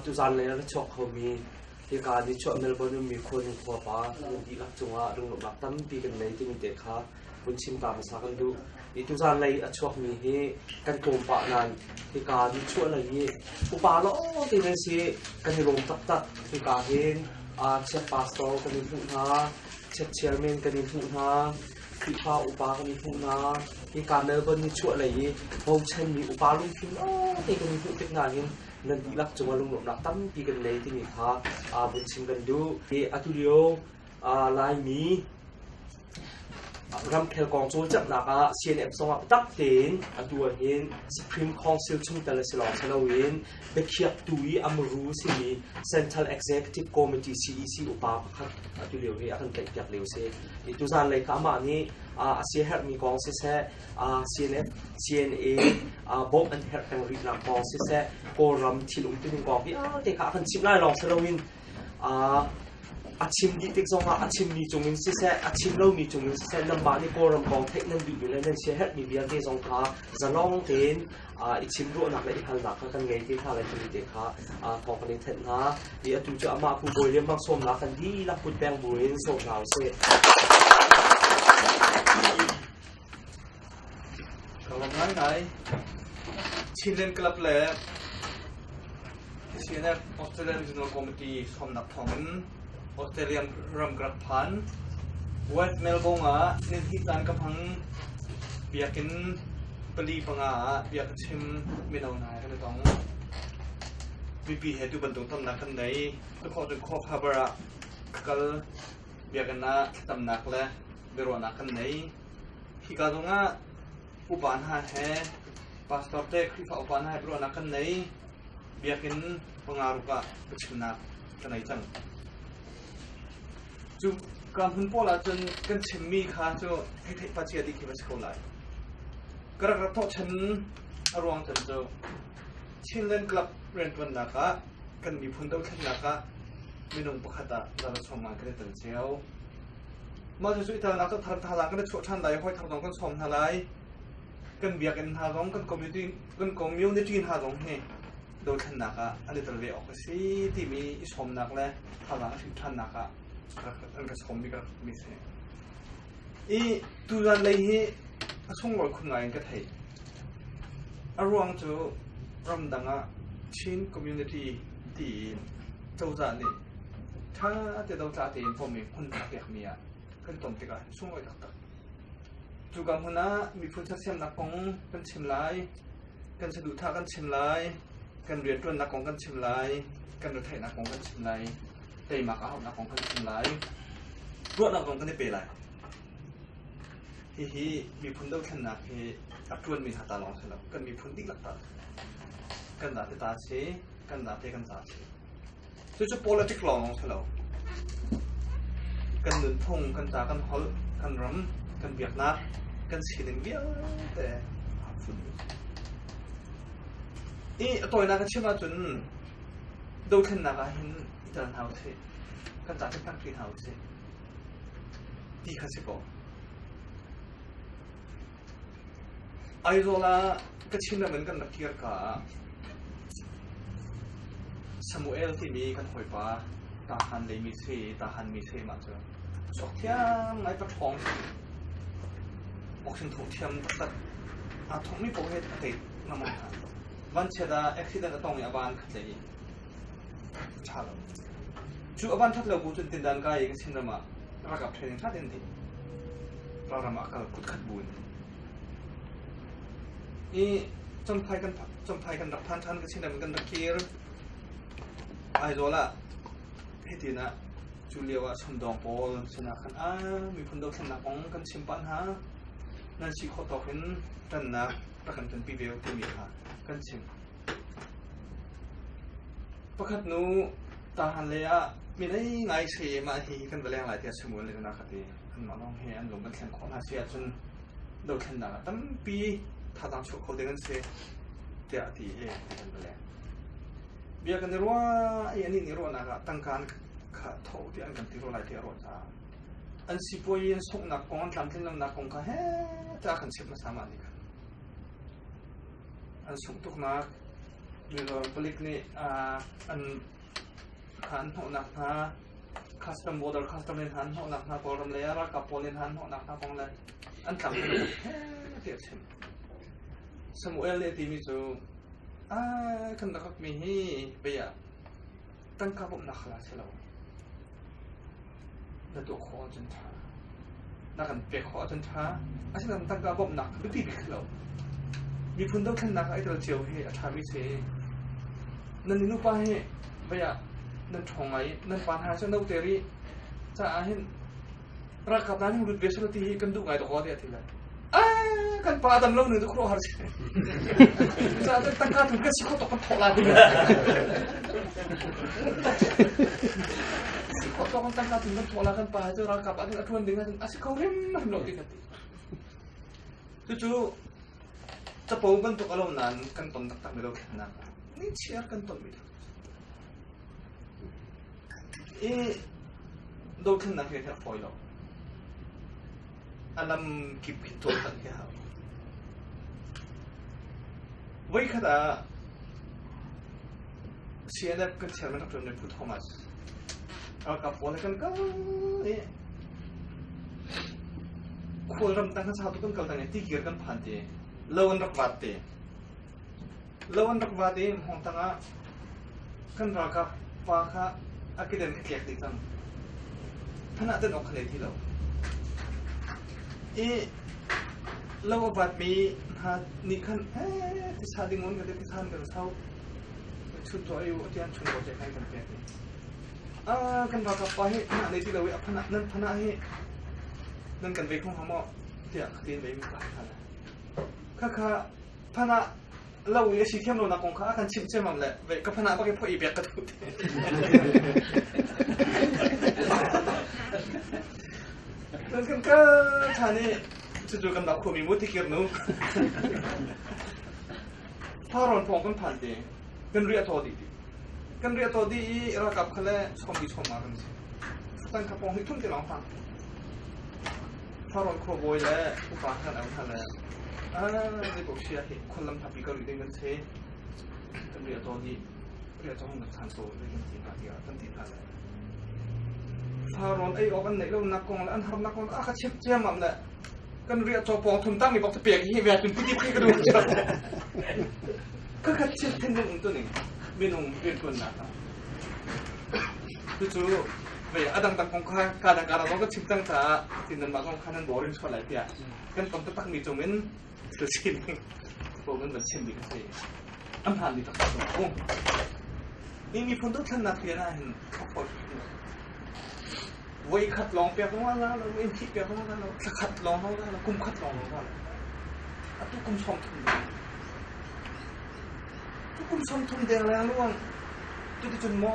Tuzaan lei ah na chuak khomi hika nichuah Melbourne ummi Khuanung khuapa dihlak cungah lunglawmhnak tampi kan ngei timi te kha vun chim ta hmasa kan duh. I tuzaan lei a chuakmi hi kan pawmpah nain hika nichuah lei i upa lawngte nan si kan i lawm taktak hika hin chief pastor kan in hmuh hna chief chairman kan in hmuh hna Khrihfa upa kan in hmuh hna hika Melbourne nichuah lei i bochanmi upa lungthin lawngte kan in hmuh tik nain nan dihlak cungah lunglawmhnak tampi kan ngei timi kha aa bunh chim kan duh. I atulio Laimi ramkhel kong cawlcanghnak ah CNM sawngah biatak tein atu ahhin Supreme Council chungtel a si lawng si loin biakhiaktu i amru simi Central Executive Committee CEC upa pakhat atu lio hi a kan tlaihpiak lio si. I tuzan lei ka amah nih a siaherhmi kong siseh CNA bawmh an herh peng rih nak kong siseh Kawlram thilum tining kong vialte kha a kan chimh lai lawng si loin a chim dih tik zong ah a chimmi cung in siseh a chim lomi cung in siseh nangmah nih Kawlram kong theih nan duhmi le nan sia herhmi vialte zong kha zalong tein i chim ruahnak le i halnak kha kan ngei ti hna le tuni te kha thawng kan in thenh hna i atu cu amah pu bawi liam sawmnak kan dihlak put peng buin sawm hna usih Ka lawm ngaingai. Chinland Club le CNF Australia Regional Committee hrawmnak thawngin Australia ram ka rak phan. West Melbourne ah nihni caan ka hmang. Biakinn pali panga ah bia ka chim mino hna kan i tong. Mipi he tu bantuk tamnak kan nei. Ka khawh cu khawh khabar ah ka kal. Biakinn ah tamnak le biaruahnak kan nei hika zongah upa hna he pastor te khrihfa upa hna he biaruahnak kan nei biakin pangaruk ah pachimnak kan ei cang cu ka hmun pawl ahcun kan chimmi kha cu theithei pachia dih khi va si ko lai ka rak rak thawh chan a ruang chan cu Chinland Club rianṭuannak ah kan miphun dothlennak ah minung pakhat ah zara chawngman kan i tan cio Mah cu cuihtalnak cu thar thazaang kan i chuah ṭhan lai i hawithar zong kan sawm hna lai. Kan biakinn hna zong, kan community, kan community hna zong hi dothlennak ah an i tel ve awk a si timi i sawmnak le thazaang hrim ṭhannak ah an ka sawmmi ka rak ṭhumi a si. I tuzan lei hi a sunglawi khun ngai in ka theih. A ruang cu ramdang ah Chin community tiin cozah nih Ṭha te do ca tein pawm i hmun a pekmi ah kan tom tikah hin sunglawi taktak. Cuka hmun ah miphun sersiamnak kong kan chim lai, kan saduhthah kan chim lai, kan rianṭuannak kong kan chim lai, kan retheihnak kong kan chim lai, teimak ahonak kong kan chim lai. Ruahnak zong kan i pe lai. Hihi miphun dothlennak hi a ṭuanmi hna ta lawng si lo, kan miphun dihlak ta kan date ta si, kan date kan za si. Cucu politic lawng a si lo. Kan nunphung, kan ca, kan holh, kan ram, kan biaknak, kan sining vialte aa fun. I a tawinak a chim ahcun dothlennak ah hin i tel hna usih. Kan ca ṭhitnak ṭi hna usih. Ti kha si kaw. Aizawl ah Kachinram in kan rak kir ka ah Samuel timi kan hawipa Tahan lei mithli, Tahan mithli mah cu cawk thiang ngai pa ṭhawng awkhin thawng thiam taktak aa thawkmi paoh he a thei ngam hna. Vanchiat ah accident a tong i a van khat lei i Cu a van that lo bu cun tindan ka i ka chin ram ah ralkap training that in di ralram ah kal kut khat bu in i chomthai kan chomthai kan rak than than ka chin ram kan rak kir Aizawl ah hitin ah cu lio ah chumdawng pawl sinah khan a miphun dothlennak kong kan chim pah hna nan si khawh tawk in tannak rak kan tonpi ve timi kha kan chim Pakhat nu tarhan lei ah mirei ngai sayem ah hi kan va leng lai tiah Samuel nih a ka ti. Anmah lawng he an lung kan thlen khawh hna si ahcun dothlennak ah tampi thazaang chuah kho ding an si tiah ti he kan va leng. Bia kan i ruah i anih nih ruahnak ah tangka an kha tho tiah an kan ti ro lai tiah ruah hna. An sipuai i an sunghnak kong an tlamtlinlonak kong kha he ta kan chim hmasama nih khan. an sung tuknak milor palik nih kha an hnawhnak hna custom border custom in hna an hnawhnak hna kawlram lei ah ralkap pawl in hna an hnawhnak hna kong le an tlang tiah a chim Samuel nih a timi cu ai kan rakak mi hi bei ah tangka bawmhnak hal ah si lo na tuah khawh ahcun ṭha na kan pek khawh ahcun ṭha asinain tangka bawmhnak biapi bik si lo miphun dothlennak ah i tel cio hi a ṭhami si nan i nupa hi vaya nan ṭhawng ngai nan pa hna cu no ter i caah hin Ralkap hna nih lut ve sal ti hi kan duh ngai tuk tiah a ti lai. Kan pa adam lo nu nu khuruh har si. Sa ta tangka tu kan si kho tok kan thok la ti. Si kho tok kan tangka tu kan thok la kan pa cu ralkap adin atuan ding adin asi kho rim rim lo ti kan ti. Cucu capo bantuk alom nan kan ton taktak mi lo khennak. Ni chiar kan ton mi lo. I dothlennak hi a herh fawi lo. A lam kip in dohtan hi a hau. Voikhat ah CNF kan chairman kan tuanmi Pu Thomas ralkap pawl kan kal i khualram tang kan sau tu kan kal tang i tikir kan phan ti lo an rak vat ti Lo an rak vaat i hngawng tangah kan ralkap pa kha a kedan a tlek dih cang. Thanah tan awk kha lei ti lo. I lo a vaatmi hna nih khan ee tisa ding un ka ti than kan sau. Chut tuah u atian chung ko te kai kan pek. Ah kan ralkap pa hi thanah lei ti lo i a phanah nan phanah hi nan kan vei khong hamo tiah khatin vei mi ka kha kha kha phan ah lo i a si thiam lonak kong kha a kan chimh ciammam le ve ka phan ah bak i phoih biak ka duh kan kan ka tha nih cucu kan dak khomi mu tikir nu tharon phong kan phan te kan ria to di kan ria to di i rakap khale som bi som ma kan si tan ka pong hi thun te long tang Sarawt khuabawi le upa hngal au hna le zeipaoh si ah khuallam hlapi ka ruih ding kan si kan ria tawn i ria cawng nak chan so ding kan ti hna tiah kan ti hna le saron ei awk an neih lo nak kong le an har nak kong a ka chim ciam am le kan ria caw pawng thun tang mi bok ta pek hi ve tun piti phi ka dum cha ka ka chim thin ning tu ning minung rian kun na Cucu vei a dang kong kha ka dang ara zong kan chim cang caah tin nan mah kong kha nan borin chuah lai tiah kan tam taktak mi cung in thil sining ko nan van chim ding a si an phan mi taktak kan hu ni mi phun tu thlan nak tian ah hin khok voi khat long pe ko la lo in thi pe ko la lo khat long ho la lo kum khat long ho la a tu kum som thum tu kum som thum deng la luang tu tu chun mo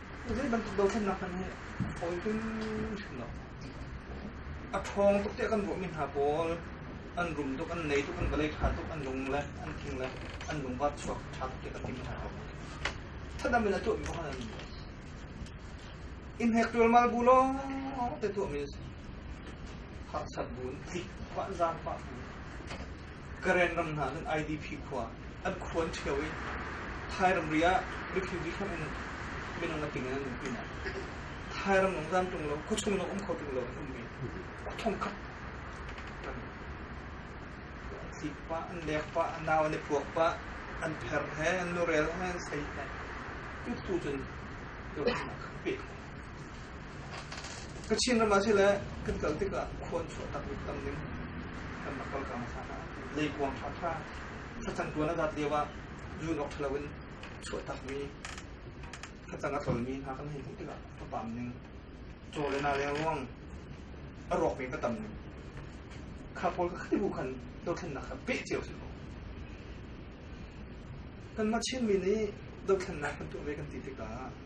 Zeibantuk dohthlennak hmanh hi hawi tling hrim lo. A ṭhawng tuk tiah kan ruahmi hna pawl an rum tuk, an nei tuk, an vawlei ṭha tuk, an lung le an tling le an lungvar chuak ṭha tuk tiah kan ti hna ko. Thatdam in a tuahmi kong an in hek ṭulmal bu lawng te tuahmi a si. Harsat bu in, tlik, vanzang pah bu. Karen ram hna nan IDP khua an khua an ṭhio i Thai ramri ah refuge hram in minung a ting in an um pin ah Thai ram lawng zan ṭung lo khuachung lawng um kho ṭung lo an ummi thongkhat kan an tlik pah an lek pah an nau an i puak pah an pher he an lurel he an sei he tu tu cun turin a khan pet Ka Chinram ah sile kan kal tikah khua an chuah tak mi tam ning kan rak kal kang hlan ah leikuang ṭhaṭha thlacang tuan a rat lio ah zun awk ṭha loin chuah tak mi thlacang a tlol mi hna kan hei hmuh tikah ka pam ning caw le na leng ruang a rawk mi ka tam ning kha pawl ka khati bu khan dothlennak kha peh cio si kaw kanmah Chin mi nih dothlennak kan tuah ve kan ti tikah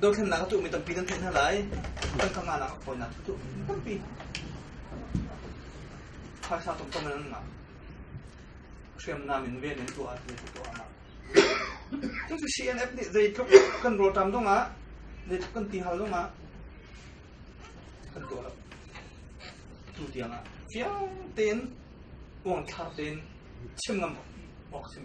Dothlennak a tuhmi tampi kan theih hna lai. Tangkanganak a fawinak a tuhmi tampi. Phaisa tomtom in an ngah. Hriamnam in ven in tuah ti tu tuahnak. Cucu CNF nih zeitluk kan rawtam dong ah, zeitluk kan ti hal dong ah, kan tuah lo. Tu tiang ah fiang tein, uang thar tein chim ngam awk chim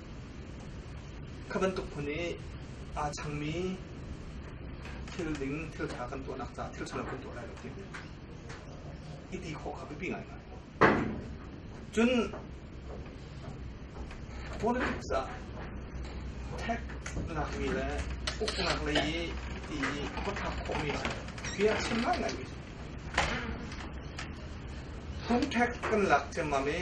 Kha bantuk hmun i aa changmi thil ding thil ṭha kan tuahnak caah thil ṭhalo kan tuah lai lo ti i ti khawh kha biapi ngaingai. Cun politics ah tech lakmi le uknak lei i ti i khuatthlak khawhmi cu bia chim ngaingai mi cu. Phung tech kan lak ciammam i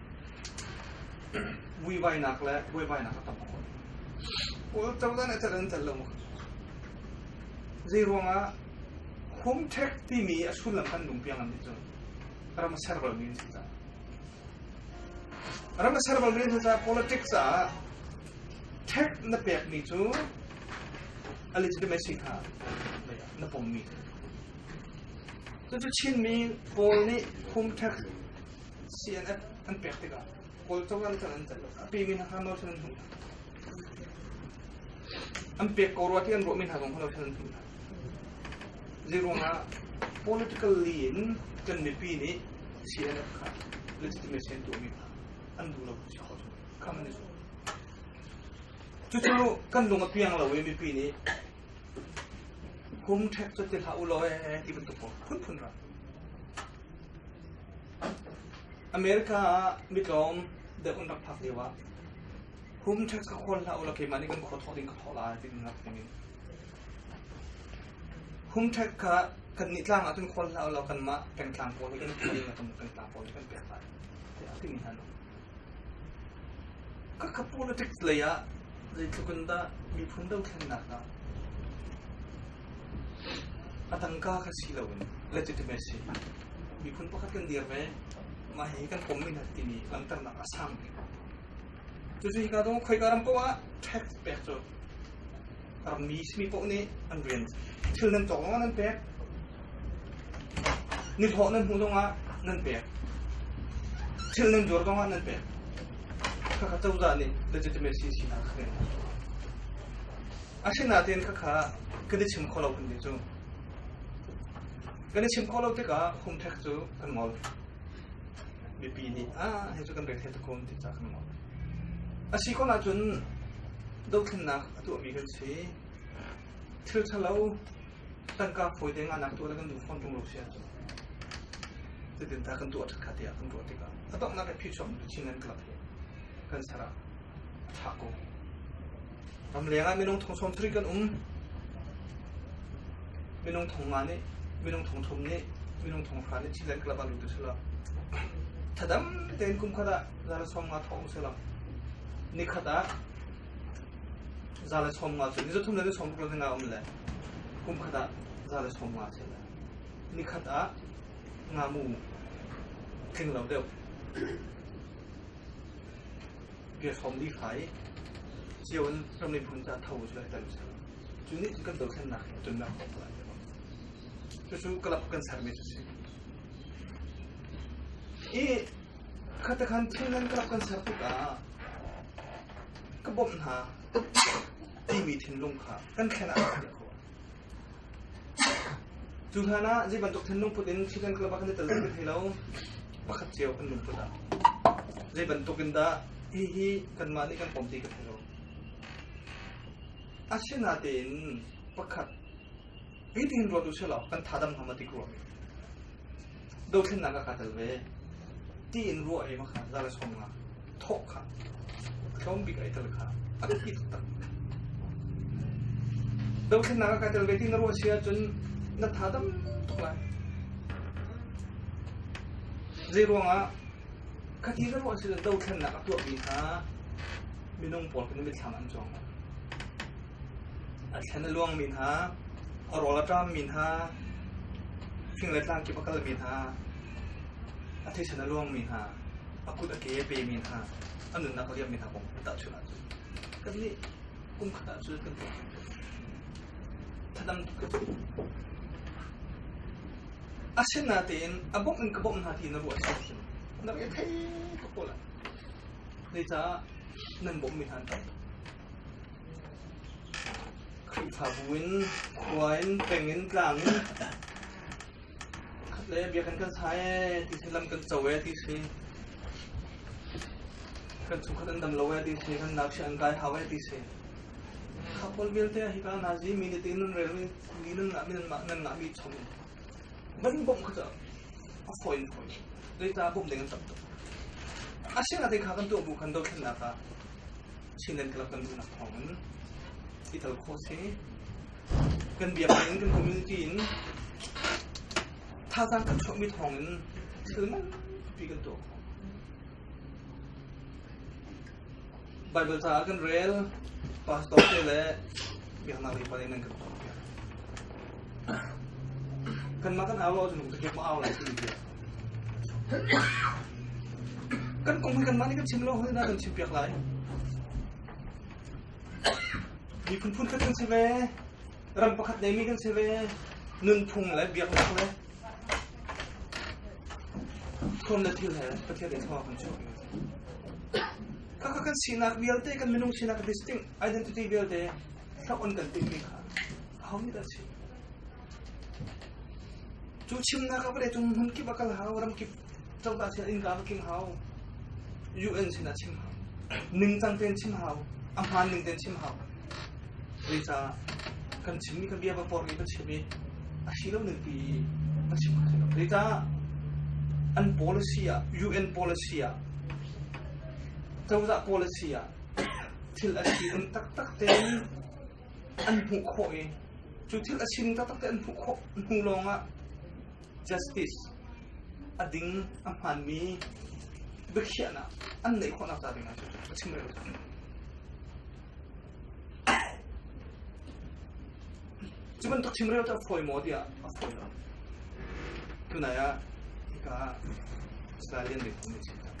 Vuivainak le buaibainak a tam a fawn. Kawl cozah cat an cal lo maw? Zei ruangah home tech timi a sullam kan lung piang an nih cun ram a ser bal mi an si caah. Ram a ser bal mi an si caah politics ah tech na pek mi cu a legitimacy kha na pom mi cu. Cun Chinmi Kawl nih home tech CNN an pek tikah Kawlco ral cun an ceih a ping in Hano cun an hung an pek ko rua ti an ruahmi hna zong Hano cun an hung ziruang ah politically in kan mipi nih CNN kha legitimacy an tuahmi hna an duh lo si kho cu kha man zu cucu kan lung a piang lo i mipi nih hum ṭhek cu ti hlah u law ti bantuk ko phunphun ra America ah mitlawm deuh an rak phak lio ah hum ṭhek ka khual hlah u law keimah nih kan khua thawh ding ka thawh lai timi ngak dingin hum ṭhek kha kannih tlang ah cun khual hlah u law kanmah pengtlang pawl hi kan khual kan tlang pawl hi kan pek lai tiah a timi hna no. Ka ka politics lei ah zeitluk in dah miphun dothlennak ah a tangka kha si lo in legitimacy miphun pakhat kan dir ve mah hi kan pom minat timi langhternak a sang tuk. Cucu hika dong khoika ram paoh ah tax pek cu Rammi simi poh nih an rian thil nan tawk lawngah nan pek. Nithawh nan hmuh lawngah nan pek. Thil nan zuar lawngah nan pek. Khakha cozah nih legitimacy sinak kha kan Asinain khakha kan i chim kho lo kan ti cu. Kan i chim kho lo tikah humthek cu kan ngol. Mipi nih ah he cu kan rethei takun ti ca kan ngol. Asi ko ahcun dohthlennak a tuahmi kan si thil ṭhalo tangka fawi deng ah nak tuah le kan duh fawn ṭung lo si ahcun cutin ta kan tuah ṭhatkhat tiah kan ruah tikah a donghnak i phichuak nu chin an club hi kan sara a ṭha ko ram leng ah minung thong som thrik kan um minung thong nga nih minung thong thum nih minung thong hra nih chin an club an rutu sila thadam ten kum khata zara som nga thong sila nikhat ah Za le chawm nga cu ni zathum le ni chawm ruk le nga um le kum khat ah za le chawm nga cu le ni khat ah ngamu tling lo deuh bia hrawm li fa i cio in ram le phun ca tho cu lai tan cu cu ni kan do thlen nak he tun nak ko lai cucu club kan sermi cu si hi khata khan thil nan club kan ser tikah ka bawmh hna timi thinlung kha kan thlen ah a rak khawh. Cu hlan ah zei bantuk thinlung put in Chicken Club ah kan i tel kan thei lo. Pakhat cio kan lungput ah. Zei bantuk in dah hihi kanmah nih kan pom ti ka thei lo. Asina tein pakhat Hitin ruatu si law kan thadam hna ma tik rua. Dothlennak ka tel ve. Ti in ruah he ma kha zala som nga. Thok kha. Tlawm bik ai tel kha. A biapi tak. Dothlennak ka tel ve tin ruah sia cun na thadam thok lai. Zei ruangah khati na ruah sia dothlennak a tuah mi kha minung pawl kan mit thlang an chuang lai. A thlen a luangmi hna, a rual a ṭammi hna, fing le tlang kip a kalmi hna, a theisen a luangmi hna, a kut a ke a pemi hna, a nunnak a liammi hna kong kan tahchunh ahcun kannih kumkhat ah cun kan tuah tuk. Thadam tuk kan si. A sen na tein a bawmh in ka bawmh hna ti na ruah cu a thim. Na rel thei ka kawl ah. Zeicah nan bawmhmi hna an tam? Khrihfabu in khua in peng in tlang in khat le biakinn kan sa ee ti si lam kan co ee ti si kan chungkhat an dam lo ee ti si kan nakshi an kai hau ee ti si kha pawl vialte hi ka na zi mi ni tin nun rel mi ni nun la min ma nan la mi chom ban bom kha cha a foi foi dei ta bom deng tam to a sing ate kha kan to bu kan do khin la ka Chinland Club kan duhnak thawng in i tel kho se. Kan biak in kan community in thazaang kan chuahmi thawng in thil manpi kan tuah khawh. Bible caah kan rel pastor te le biaknak lei pa in nan kan tuah piak. Kanmah kan au ahcun ka au lai ti tiah. Kan kong kanmah nih kan chim lo hoi na kan chim piak lai. Miphun phunkhat kan si ve, ram pakhat neimi kan si ve, nunphung le biaknak le thawn le thil he Pathian in thawng kan chuak kaka kan sinak vialte kan minung sinak distinct identity vialte thloh on kan timhmi kha ahohmanh a si. Cu chimnak ah vale cung hmun kip a kal hau, ram kip cangta sin in ka va king hau. UN sin a chim hau. Ningcang tein chim hau. A hmaan ning tein chim hau. Zei ca kan chimmi kan bia va por mi va chim i a si lo ning pi va chim hau lo. Zei ca an policy ah UN policy ah cozah policy ah thil a si um taktak tein an hmuh khawh i cu thil a sin taktak te an hmuh khawh hnu lawngah justice a ding a hmanmi biakhiahnak an neih khawhnak ca dingah cu a chim reu cu bantuk chim reu ta foi maw tiah a foi lo tunai ah ka Australian nih kan chim tak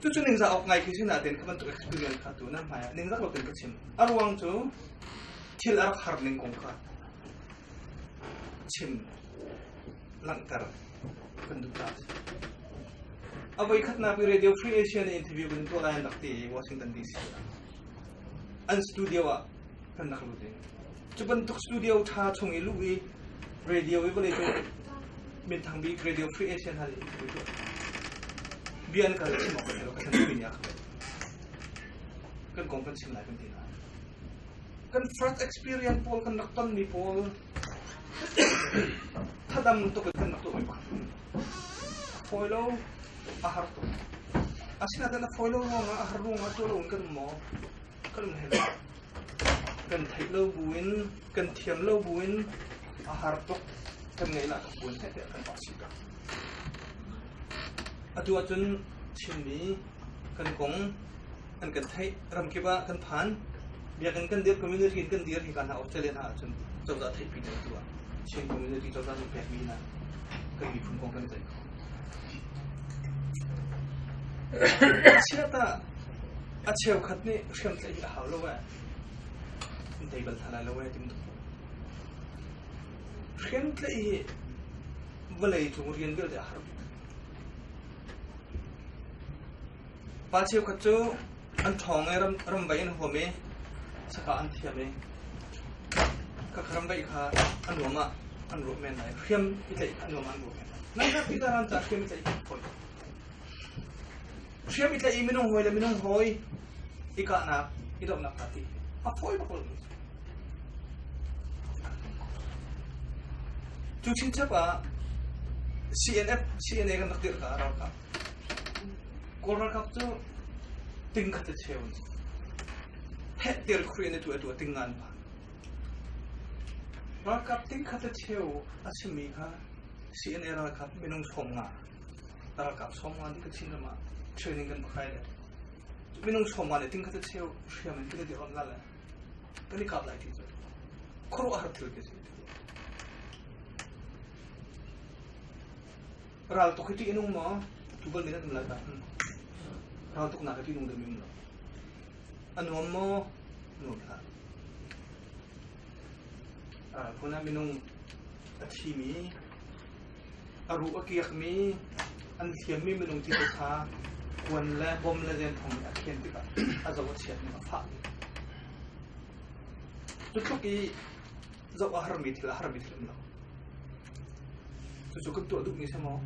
Cucu ningzah awk ngai khi sin ahtin kha bantuk experience kha tu na hmai ah ningzah lotin ka chim. A ruang cu thil a rak har ning kong kha chim langhter kan duh ta. A voi khatnak i Radio Free Asia na interview kan tuah lai an rak ti i Washington DC. an studio ah kan rak lut i cu bantuk studio ṭha chung i luh i radio i vawlei cung minthang bik radio free asia hna nih bia an kal chim awk ka lo ka san pin ya kan kong kan chim lai kan ti lai kan first experience pawl kan rak ton mi pawl Thadam tuk kan tuk mai ba. Foi lo a har tuk. Asina dan a foi lo ruang a har ruang a to lo kan mo. Kan he kan thei lo buin kan thiam lo buin a har tuk kan ngei la buin he te kan ba si ka. Atu acun Chinmi kan kong an kan theih ramkip ah kan phan biakinn kan dirh community in kan dir hika hna australia hna ahcun cozah theihpi ding tu ah chin community cozah nih pekmi hna kan miphun kong kan i ceih kho chiat ah a cheukhat nih hriam tlaih hi a hau lo e dei bal tha lai lo e tim hriam tlaih hi vawlei cung rian vialte a har Pa cheukhat cu an ṭhawng i ramvaih in a huam i saka an thiam i ka ramvaih kha an ruam ah an ruah men lai hriam i tlaih an ruam ah an ruah men lai nangkha Peter han ca hriam i tlaih fawn Hriam i tlaih i minung hawi le minung hawi i kahnak i dohnak aa ti. A fawi bakol mi. Cu chinchap ah CNF, CNA kan rak dirh ka ralkap. Kawl ralkap cu ting khat te cheu ni. Phet tir khri ne tu atu ting ngan pa. Ralkap ting khat te cheu a simi kha CNA ralkap minung som nga. ralkap somwa nih ka chin ram ah training kan khai le minung somwa nih ting kha cheu hriam in kan di on la le kan i kap lai ti cu khuru har thil ke ral tok hi ti inung ma tu bal minat mla ta ral tok na ka ti nung de min la anuam mo no la Kun ah minung a thimi, a ruh a kiakmi, an thiammi minung tete kha kuan le bom le denthong nih a khen tikah a zo a chiatning a fah. Cu tluk i zoh a harmi thil a harmi thil um lo. Cucu kan tuah duhmi si maw?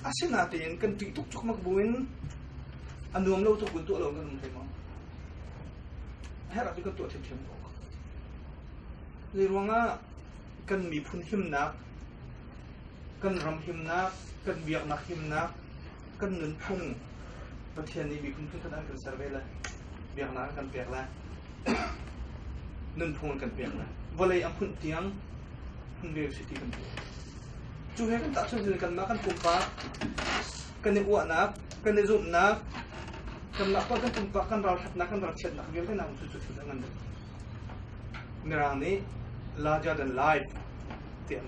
Asinain kan ṭih tuk cukmak buin a nuam lo tuk in tuah lo kan um hlei maw? Herh ahcun kan tuah ṭhiamṭhiam ko. Zei ruangah kan miphun himnak, kan ram himnak, kan biaknak himnak, kan nunphung Pathian nih mi phun an kan ser ve le biaknak an kan pek le nunphung an kan pek le vawlei a hmunh tiang hmun ve si ti kan tuah. Cu he kan tahchuan hin kanmah kan pumpak kan i uahnak kan i zumhnak kanmah pa kan pumpak kan ralthatnak kan ralchiatnak vialte na cu cu an ngan mirang nih larger than life ti an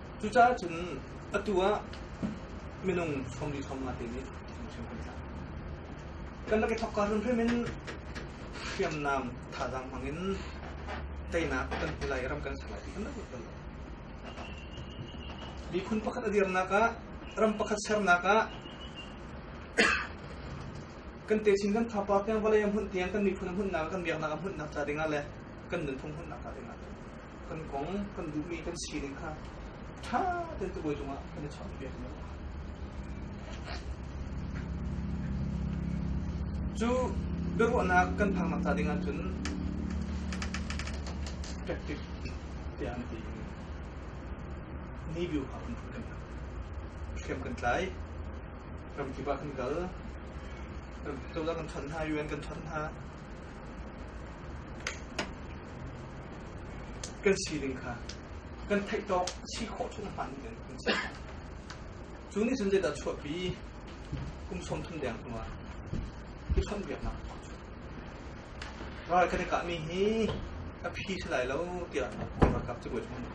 Cucaah cun atu ah minung hrawmri hrawmnga te nih hrimhrim kan tlak. Kan lak i thokka hrimhrim in hriamnam thazaang hmang in teinak kan hmu lai, ram kan ser lai ti kan rak bal lo. Miphun pakhat a dirnak ah, ram pakhat sernak ah kan techin kan thapa tiang vawlei a hmunh tiang kan miphun a hmunh nak kan biaknak a hmunh nak ca dingah le kan nunphung hmunh nak ca dingah kan kong kan duhmi kan si ding kha ṭha tein tubawi cungah kan i chawnhpiak lo. Cu biaruahnak kan phaknak ta dingah cun practice tiah an ti. Ni biu hau kan phak. Kem kan tlai. Ram kiba kan kal. Ram cozah kan ṭhan hna, UN kan ṭhan hna. kan sining kha kan theih tawk a si khawh cu na hmaan men kan si. Cu nih cun zeidah chuahpi kum sawmthum deng hnuah i chawnhbiaknak ral kan i kahmi hi a phi si lai lo tiah ralkap cabuai chung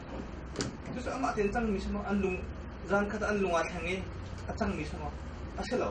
cucu amah tein cangmi sama an lung zan khat an lung aa thleng i a cangmi sama a si lo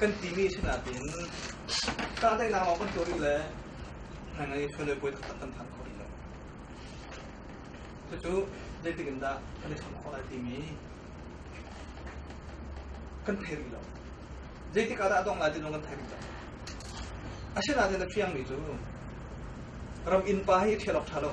kan timi a si nain kahdaihnak lawng kan tuah rih le ngaingai chawlei puai taktak kan phan kho rih lo. Cucu zeitik in dah kan i chawnh khawh lai timi kan thei rih lo. Zeitik ah dah a dong lai ti zong kan thei rih lo. Asinain na fiangmi cu ram innpa hi a ṭhial awk ṭha lo.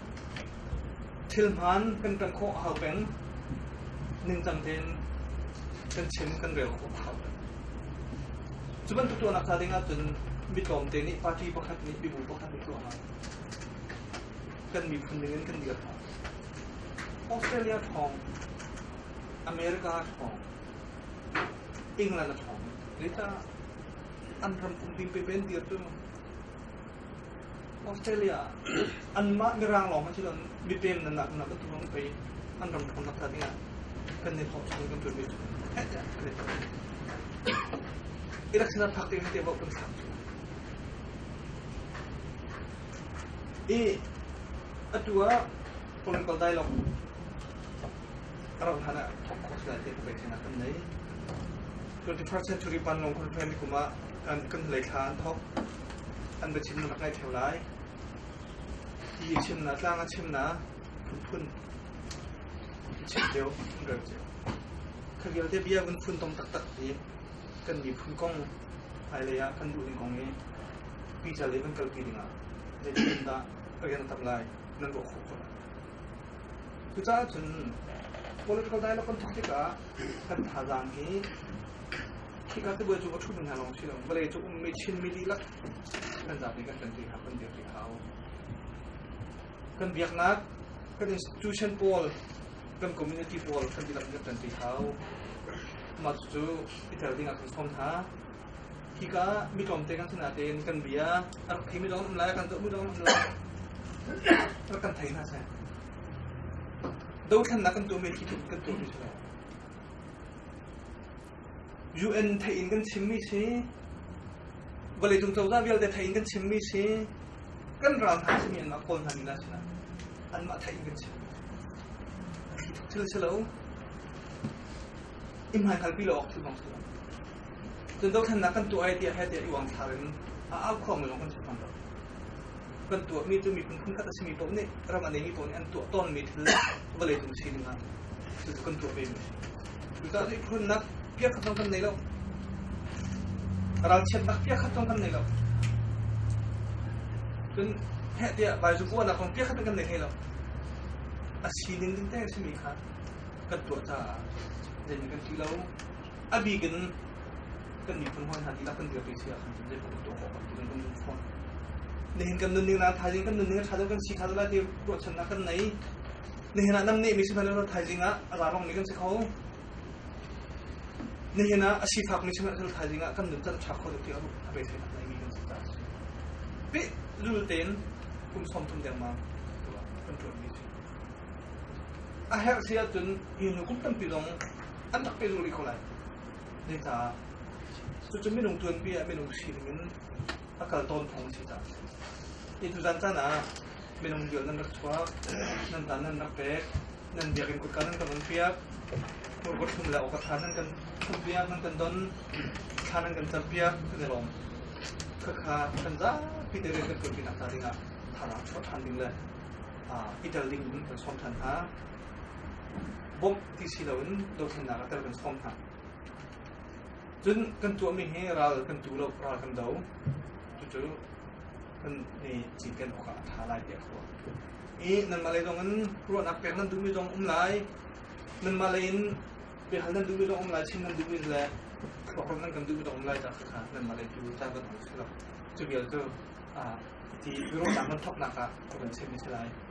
Thil hmaan kan ṭanh khawh a hau peng. Ningcang tein kan chim kan rel khawh a hau peng. Cu bantuk tuahnak hna ding ahcun mi tlawmte nih party pakhat nih mibu pakhat nih tuah hna. Kan miphun ningin kan dir hna. Australia thawng, America thawng, England a thawng. Zeicah an ram pumpi pepen dir cu? Australia ah anmah mirang lawng hmanh si loin mipem nan nak nak tu lawng pei an ram kan rak tat dingah kan i thawk chung kan tuanmi cu kan i thawk. Irak sinah phak ding te kan phak cu. I atu ah political dialogue A rauh hlan ah Trump khuasai te peknak kan nei. 21st century panlong conference kum ah kan kan lei thla an thok an ba chim na kai theo lai i chim na tlang a chim na phun chim teo phun rel teo khagel te bia kan phun tom tak tak hi kan mi phun kong ai le ah kan du ding kong i pi cha le kan kal pi ding ah le kin da again tap lai nan bo kho ko Cucaah cun political dialogue kan tuah tikah kan thazaang hi khika tibuai cu a ṭhumi hna lawng si lo, vawlei cu ummi Chinmi dihlak kan zapi kan ṭan ṭi hna, kan dir ṭi hau. Kan biaknak, kan institution pawl, kan community pawl kan dihlak in kan ṭan ṭi hau. Mah cucu i tel ding ah kan sawm hna. Hika ah mi tlawmte kan sinah tein kan bia a rak theimi zong an um lai, kan zohmi zong an um lai. Rak kan thei hna seh. Dothlennak kan tuahmi khi kan tuah mi sih UN theih in kan chimmi si, vawlei cung cozah vialte theih in kan chimmi si, kan ral hna simi anmah kawl hna nila sinah anmah theih in kan chim. Thil si lo. Imhai kalpi lo awk thil bang si lo. Cun dothlennak kan tuah ai tiah hete i uangthlar in a au khuangmi zong kan chuak tawn lo. Kan tuahmi cu miphun phunkhat a simi paoh nih ram a neimi paoh nih an tuah tawnmi thil vawlei cung si ding ah cucu kan tuah vemi a si. Cucaah miphunnak piakhat zong kan nei lo. Ralchiatnak piakhat zong kan nei lo. Cun heh tiah baizupuanak kong piakhat kan nei hlei lo. A si ning ding te simi kha kan tuah caah zeimi kan ti lo, A bik in kan miphun hawi hna dihlak kan dirpi si ahkhan cun zeipaoh tuah awk a kan nun fawn. Nihin kan nunning na thaizing kan nunning a tha deuh kan si kha lai ti ruahchannak kan nei. Nihin ah namnih mi si hmanh lo thaizing ah rarong mi kan si kho. Nihin ah a sifak mi si hmanh lo thaizing ah kan nun kan tha kho deuh ti a beisei nak nei mi kan si ta. Pi lul tein kum som thum dengmang kan tuan mi si. A herh si ahcun hi nu kum tampi zong an rak pe lungri kho lai. Ne caah cucu minung tuanpi ah minung sining in a kal tawn thawng si caah. Hi tu zan caan ah minung diol nan rak chuak, nan tan nan rak pek, nan biakin kutka nan kan on piak, murkot hlum le okatha nan kan hlum piak, nan kan don, thla nan kan car piak, kan i lawm. Kakha kan zapi te kan tuanpi nak ta dingah thana chuak than ding le ah itel ding in kan som than hna. Bom ti si loin dothlennak ah tel kan sawm hna. Cun kan tuahmi hi ral kan tu lo, ral kan do. Cucu kan ni cinken awkah a ṭha lai tiah ka ruah. I nanmah lei zong in ruahnak pek nan duhmi zong um lai. Nanmah lei in biahal nan duhmi zong um lai, chin nan duhmi le thluakram nan kan duhmi zong um lai ta kha nanmah lei tu ca kan ong si lo. Cu vial cu ti i rawhnak nan thawknak ah a kan chemi si lai.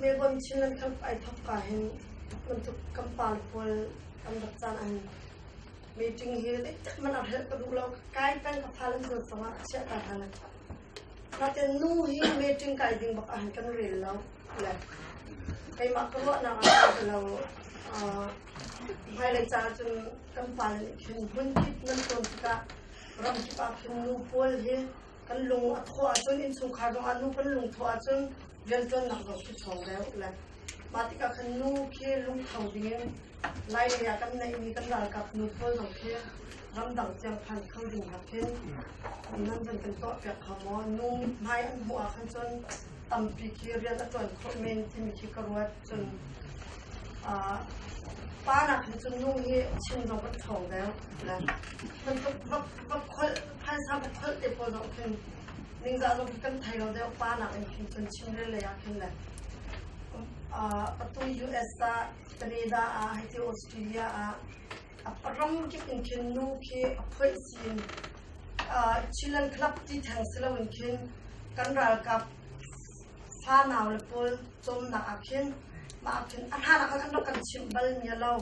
Melbourne Chinland Cup ai thawk ka hin bantuk kan par pawl kan rak caan ahhin meeting hi zeithat man a helh ka duh lo. Kai peng ka phalan dur tangah a chiah ka hlan. Natin nu hi meeting kai ding bak ahhin kan rel lo le keimah ka ruahnak ah ka lo hmailei caah cun kan pal nih khin hmun kip nan tuan tikah ramkip ah khin nu pawl hi Kan lung a thawh ahcun innchungkhar ruangah nu kan lung thawh ahcun rianṭuannak zong cu chuang deuh le mah tikah khan nu khi lungtho dingin lailei ah kan neihmi kan ralkap nu pawl zong khi ramdang tiang phan kho ding nakin nan zan kan tuahpiak kha maw nu mithmai an hmuh ah khan cun tampi khi rian a ṭuan khawh men timi khi ka ruat cun pa nakin cun nu hi chin zong kan ṭhawng deuh le bantuk va kholh phaisa va kholh te pawl no khin ningzah lo kan thai lo deu pa nak in khin cun chin le le a khin le patu US a Canada a hai ti Australia a ram kip in khin nu khi a phoi sin Chilean club ti thang silo in khin kan ral kap fa naw le pol chom na a khin ma khin a hana kan kan chim bal nya lo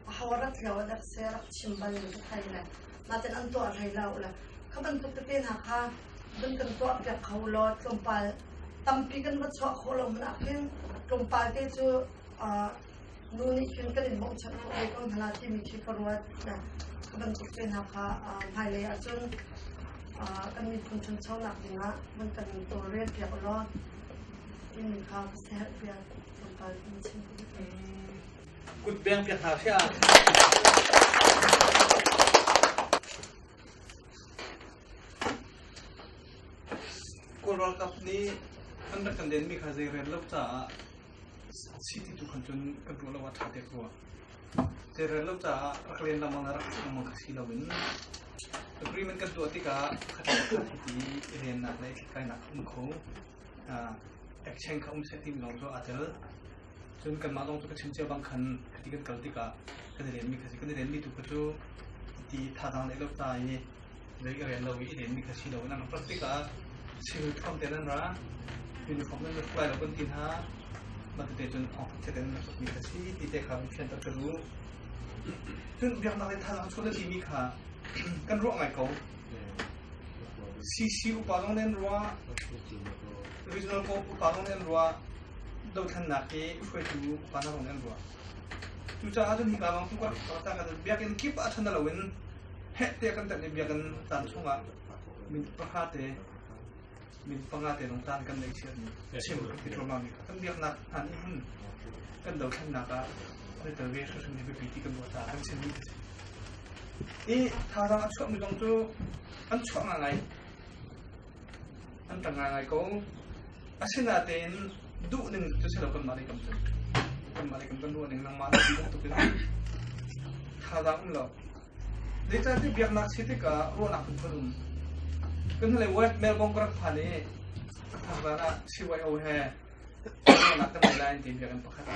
a hawarat lo da se rak chim bal ni thai le Matan an tuah hlei lo la. Kha bantuk tete hna kha kan kan tuah piak kho lo tlawmpal tampi kan va chuah khawh lo mana khin tlawmpal te cu nu nih khin kan in mong chak lo ko hna timi khi ka ruat na ka bantuk te hna kha hmailei ahcun kan miphun chanchonak dingah man kan tawlrel piak law ini kha ka seher piak tlawmpal in chim Kut peng piak hna hria! Kawl ralkap nih an rak kan denmi kha zei rel lo caah si ti tu khan cun kan tuah lo ah ṭha dek rua. Zei rel lo caah rak len lengmang le rak si lengmang kha si loin agreement kan tuah tikah pakhat le pakhat hiti i lennak le i thlithlainak a um kho. exchange kha um seh tim lawng cu aa tel cun kanmah lawng tu ka chim cia bang khan khati kan kal tikah kan i lenmi kha si kan i lenmi tu kha cu ti thazang leh lo ta i zei ka rian lo i lenmi kha si lo nang plastic ah civil thom te nan ra uniform nan fly lo kan ti hna matete cun thong khat ten na mi kha si ti te kha fian ta ka lu cun biaknak le thazang chun na timi kha kan ruah ngai ko CC upa lawng nan ruah, regional co upa lawng nan ruah, dothlannak ke hruaitu upa lawng nan ruah. Cucaah cun hika lawng tu ka ta ka biakin kip a thana loin heh te kan tak biakin tan chungah min pahate min panga te lung taan kan nei chia ni chim kan tlawma mi kan biaknak an hun kan do than nak ah ne tel ve hra hran bi ti kan bo ta kan chin ni i tha dang a chuak mi kong chu an chuak nga ngai an tang nga ngai ko asina te in du ning chu selo kan ma le kam kan ma le kan kan ru ning lang ma tuk in tha dang lo Zeicahtiah biaknak si tikah ruahnak phunphun um. Kan hlei West Melbourne ka rak phan i thang zan ah CYO he ruahnak kan ngeih lai an ti biakinn pakhat.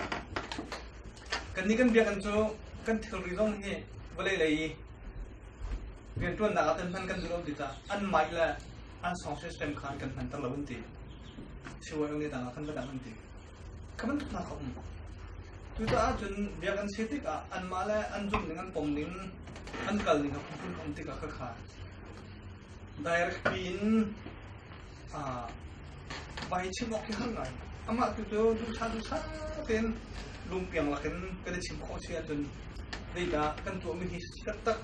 Kan nih kan biakinn cu kan thilri zong hi vawlei lei i rianṭuannak ah kan hman kan duh lo ti tah an mah le an song system kha kan hmanter lo an ti. CYO nih tangah kan va dang an ti. ka bantuknak a um cucaah cun biakinn si tikah anmah le an zumh ning an pom ning an kal ning a phunphun um tikah ka kha directly in vai chim awk khi har ngai amah tu cu dusa dusa tein lungpiang lakin kan i chim khawh si ahcun zeidah kan tuahmi hi taktak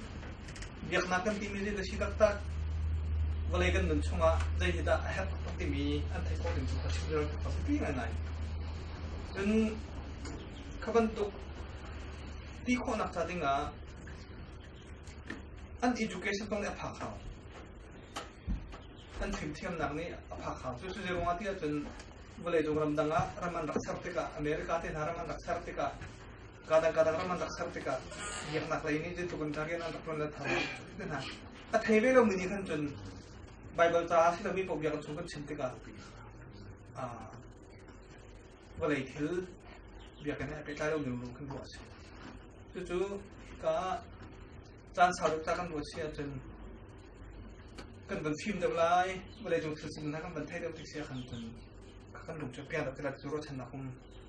biaknak kan timi nih a si taktak vawlei kan nun chungah zei hi dah a herh taktak timi an theih khawh ding cu ka chim rel taktak pi ngaingai cun kha bantuk ti khawhnak ca dingah an education kong nih a phak hau an fimthiamnak nih a phak hau cu cu ruangah ti ahcun vawlei cung ramdang ah ram an rak ser tikah america te hna ram an rak ser tikah Kadang kadang ram an rak ser tikah biaknak lei nih zeitluk in karian an rak tuan let thar na a thei ve lo mi nih khan cun Bible caah si lomi paoh biaknak chung kan chim tikah vawlei thil biakinn he pehtlai lo ning kan ruah si cucu ka caan sau duk ta kan ruat si ahcun kan van fim deuh lai vawlei cung thil sin hna kan van thei deuh tik sia khan cun kan lung chu pian deuh tilat cu ruat chan nak um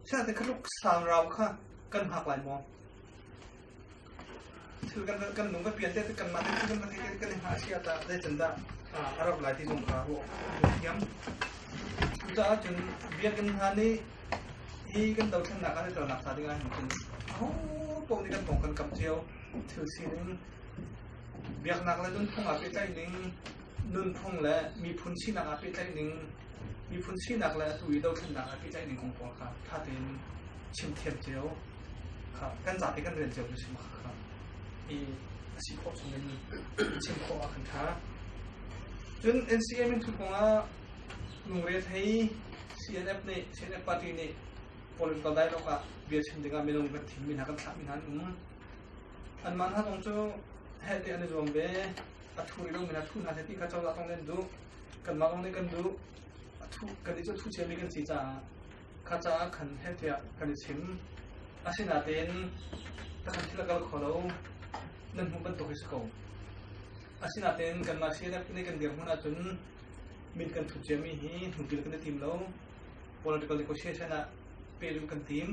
Siangte ka tluk sangrau kha kan hngak lai maw? Thil kan kan lung ka pian te kan mah te kan mah te kan hngak sia ta dai can dah a rap lai ti zong ka hu thiam. Ta cun biakinn hna nih hi kan do thlennak kan tel nak sa ding ai hin au pong ni kan pong kan kap cio thil si ning biaknak la dun phung a pe tai ning nunphung le miphun sinak ah pehtlaih ning, miphun sinak le atu i dothlennak ah pehtlaih ning kong pawl kha ṭha tein chim thiam cio kha kan zapi kan rian cio cu chim kha i a si khawh chung in chim khawh ah kan ṭha. Cun NCM in thu kong ah lungre thei CNF nih CNF party nih political dialogue ah bia chim dingah minung kan thim mi hna kan thlah mi hna an um. Anmah hna kong cu heh te an i zuam ve. a thu ri lawng in a thu hna seh ti kha cozah thawng nan duh kanmah lawng nih kan duh a thu kan i cu thu chiami kan si caah kha caah khan he tiah kan i chim asinatein takhan thil a kal kho lo nan hmuh bantuk hi si ko asinatein kanmah CNF ne kan dirhmun ahcun min kan thu ciami hi hmuhtil kan i tim lo political negotiation ah pehluh kan tim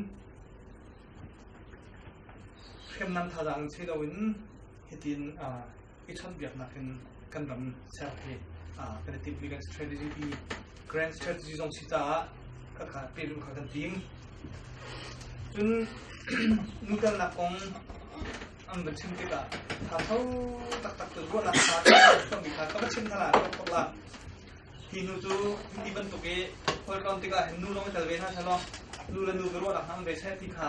hriamnam thazaang si loin hitin i chawnhbiaknak in kan ram ser hi kan i timhmi kan strategy hi grand strategy zong si caah ka ka pelum kha kan ting cun nutelnak kong an va chim tikah tha tho taktak cu ruahnak kha kan mi kha ka va chim hna la ka thok la hi nu cu ti bantuk i holkawn tikah hin nu lawng i tel ve hna salo nu le nu ka ruahnak hang ve se ti kha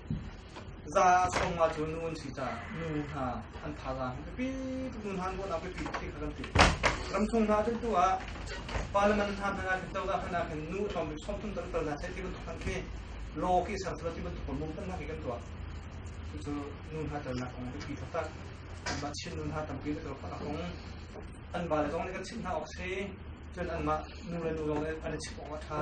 Za sawm nga cu nu an si caah nu hna an thazaang hi biapi tuk nu hna an dawtnak biapi tuk khi kha kan ti. Ramchung hna cu hnuah Parliament hna hmanh ah khin cozah hmanh ah khin nu tlawmbik sawmthum tal tal hna seh ti bantuk khan khi law khi sersual ti bantuk mung tamnak hi kan tuah. Cucu nu hna telnak kong biapi taktak. Anmah Chin nu hna tampi na telfak kong an vale zong nih kan chimh hna awk si cun anmah nu le nu zong nih an i chimh awk a ṭha.